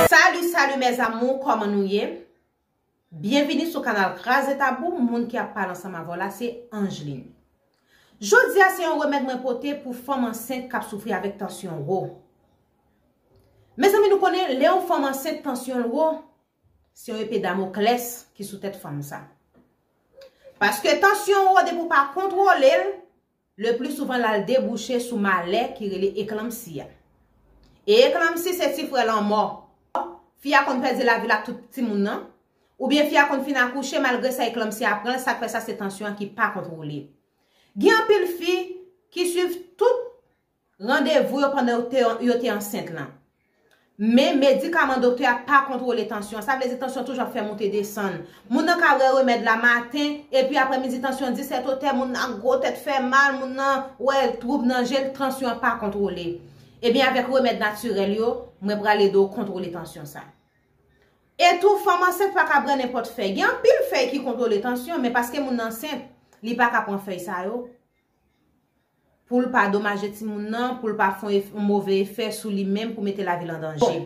Salut salut mes amour koman nou ye Byenvini sou kanal kraze tabou moun ki ap pale ansanm avèw la se Angeline Jodia se yon remèd mwen pote pou fanm ansent kap soufri avèk tansyon wo Mezanmi nou konnen lè yon fanm ansent tansyonl wo se yon epe damoklès ki sou tèt fanm sa paske tansyon wo depi ou pa kontwolel Le pli souvan lal debouche sou malè ki rele eklanmsi a. E eklanmsi se ti frè lanmò. Fi a konn pèdi lavil ak tout timoun nan. Ou byen fi a konn fin akouche malgre sa eklanmsi a pranl sak fè sa se tansyon an ki pa kontwole. Gen anpil fi ki swiv tout. Randevou yo pandan yo te ansent lan. Men, medikaman doktè a pa kontwole tansyon an. Sa vle di tansyon toujou ap fè moute desann. Moun nan ka wè remèd la maten, epi aprè midi tansyon disèt otè, moun nan ak gwo tèt fè mal, moun nan wè twoub nan je l, tansyon an pa kontwole. Ebyen avèk remèd natirèl yo, mwen pral ede w kontwole tansyon sa. E tou, fanm ansent pa ka bwè nenpòt fèy. Gen anpil fèy ki kontwole tansyon, men paske moun nan ansent, li pa ka pran fèy sa yo. pou l pa domaje timoun nan, pou l pa fè yon move efè sou li menm pou mete lavi l an danje.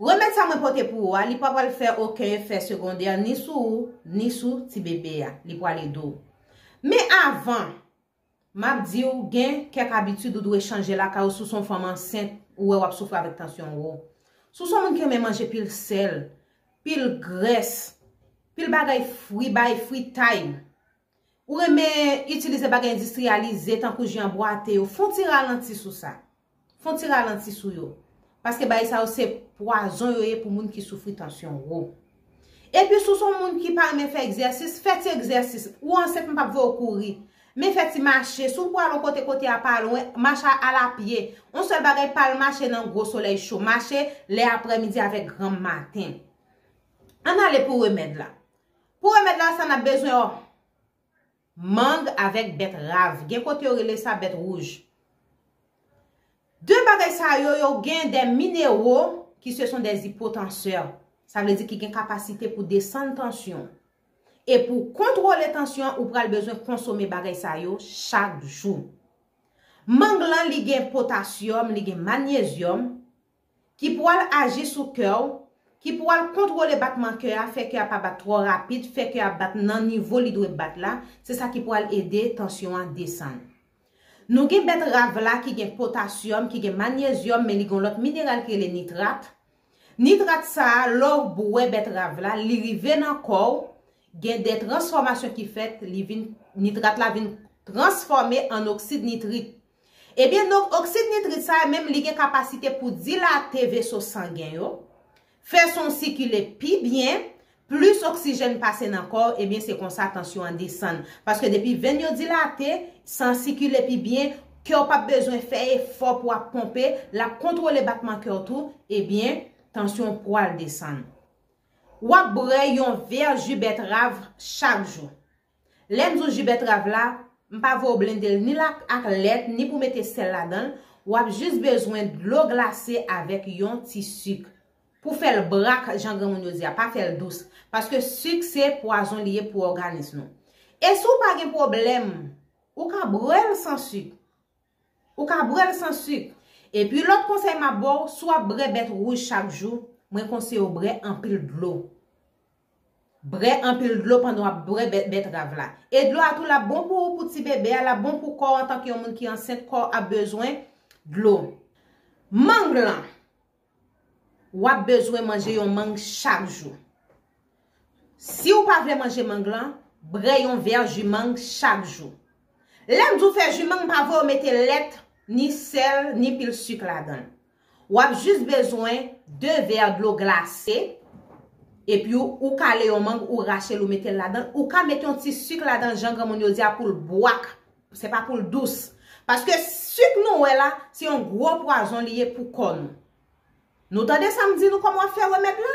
Remèd sa mwen pote pou ou a, li pa pral fè oken efè segondè ni sou ou, ni sou ti bebe a. Li pral ede w. Men avan, m ap di w gen kèk abitid ou dwe chanje lakay ou si w se yon fanm ansent ou wè w ap soufri avèk tansyon wo. Si w se yon moun ki renmen manje pil sèl, pil grès, pil bagay fri, bay fritay. Ou renmen itilize bagay endistriyalize tankou ji an bwate yo, fon ti ralanti sou sa. Fon ti ralanti sou yo. Paske bagay sa yo se pwazon yo ye pou moun ki soufri tansyon wo. Epi si w se yon moun ki pa renmen fè egzèsis, fè ti egzèsis. Ou ansent m pap vè w kouri. Men fè ti mache. Si w pou al yon kote, kote a pa lwen, mache al a pye. Yon sèl bagay pa al mache nan gwo solèy cho. Mache lè aprèmidi avèk granm maten. Ann ale pou remèd la. Pou remèd la sa nap bezwen yon mang avèk bèt rav gen kote yo rele sa bèt wouj. De bagay sa yo yo gen de minero ki se son de zipotansè sa vle di ki gen kapasite pou desann tansyon e pou kontwole tansyon ou pral bezwen konsome bagay sa yo chak jou. Mang lan li gen potasyòm li gen manyezyòm Ki pou al aji sou kè w, ki pou al kontwole batman kè a, fè kè a pa bat twò rapid, fè kè a bat nan nivo li dwe bat la, se sa ki pou al ede tansyon an desann. Nou gen bèt rav la ki gen potasyòm, ki gen manyezyòm men li gen yon lòt mineral ki rele nitrat. Nitrat sa a, lè w bwè bèt rav la, li rive nan kò w, gen de transfòmasyon ki fèt, li vin, nitrat la vin transfòme an oksid nitrik. Ebyen donk oksid nitrit sa menm li gen kapasite pou dilate veso sangen yo, fè san w sikile pi byen, plis oksijèn pase nan kò w ebyen se konsa tansyon an desann. Paske depi venn yo dilate, san sikile pi byen, kè w pap bezwen fè efò pou ap ponpe, lap kontwole batman kè w tou, ebyen tansyon w pwal desann. Wap bwè yon vè ji bètrav chak jou. Lè m di w ji bètrav la, m pa vle w blende l ni l ak lèt ni pou w mete sèl ladan l, w ap jis bezwen dlo glase avèk yon ti sik. Pou fè l brak jan granmoun yo di a, pa fè l dous. Paske sik se pwazon li ye pou òganis nou. E si w pa gen pwoblèm, ou ka bwè l san sik. Ou ka bwèl san suk. Epi lòt konsèy map baw si wap brè bèt rouj chak jou mwen konseyew brè anpil dlo brè anpil dlo pandan wap bwè bèt bètrav la e dlo a tou lap bon pou ou pou ti bebe a lap bon pou kòw antanke yon moun ki ansent kòw ap bezwen dlo mang lan. Wap bezwen manje yon mang chak jou. Si ou pa vle manje mang lan, brè yon vè ji mang chak jou. Lèm di w fè ji mang pa vwe w mete lèt, ni sèl, ni pil suk ladanl. Wap jis bezwen 2 vè dlo glase, epi ou kale yon mang ou rachel ou metel ladanl, ou ka met yon ti suk ladanl jan granmoun yo di a poul bwak Se pa poul dous. Paske suk nou wè la, se yon gwo pwazon li ye pou kò nou. Nou tande sam di nou kòman wap fè remèd la?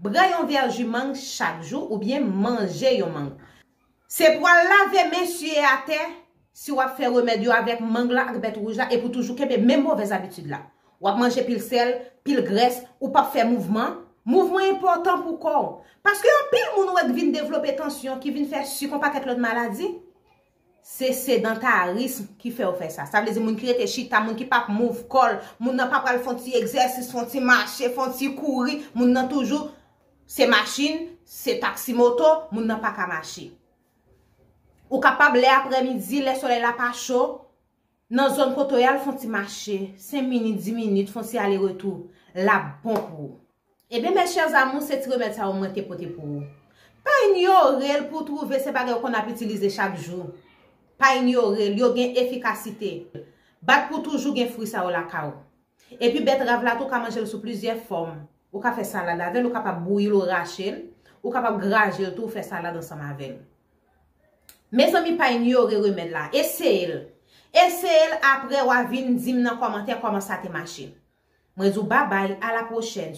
Bwè yon vè ju mang chak jou oubyen manje yon mang. Se pou al lave men siye atè si wap fè remèd yo avèk mang la ak bèt wouj la e pou toujou kenbe menm movèz abitid la. Wap manje pil sèl, pil grès, ou pap fè mouvman. Mouvman enpòtan pou kò ou. Paske anpil moun ou wè k vin devlope tansyon, ki vin fè suk yon pakèt lòt maladi. Se sedantarism ki fè yo fè sa. Sa vle di moun ki rete chita, moun ki pap move kò l, moun nan pa pral fè yon ti egzèsis, fè yon ti mache, fè yon ti kouri, moun nan toujou se machin, se taksi moto, moun nan pa ka mache. Ou kapab lè aprèmidi, lè solèy la pa cho. Nan zòn kote w yal fon ti mache, 5 minit, 10 minit, fon ti ale retou, lap bon pou ou. Ebyen mes chers amours se ti remèd sa yo mwen te pote pou ou. Pa inyore l pou w trouve se bagay ou konn ap itilize chak jou. Pa inyore l, yo gen efikasite. Bat pou w toujou gen fri sa yo lakay ou. Epi bètrav la tou ka manjel sou plizyè fòm. Ou ka fè salad avèl, ou kapab bouyil ou rachel, ou kapab grajel tou ou fè salad ansanm avèl. Mezanmi pa inyore remèd la, eseyel. Eseyel aprè wa vin dim nan kòmantè kòman sa te mache. Mwen di w babay a la pwochèn.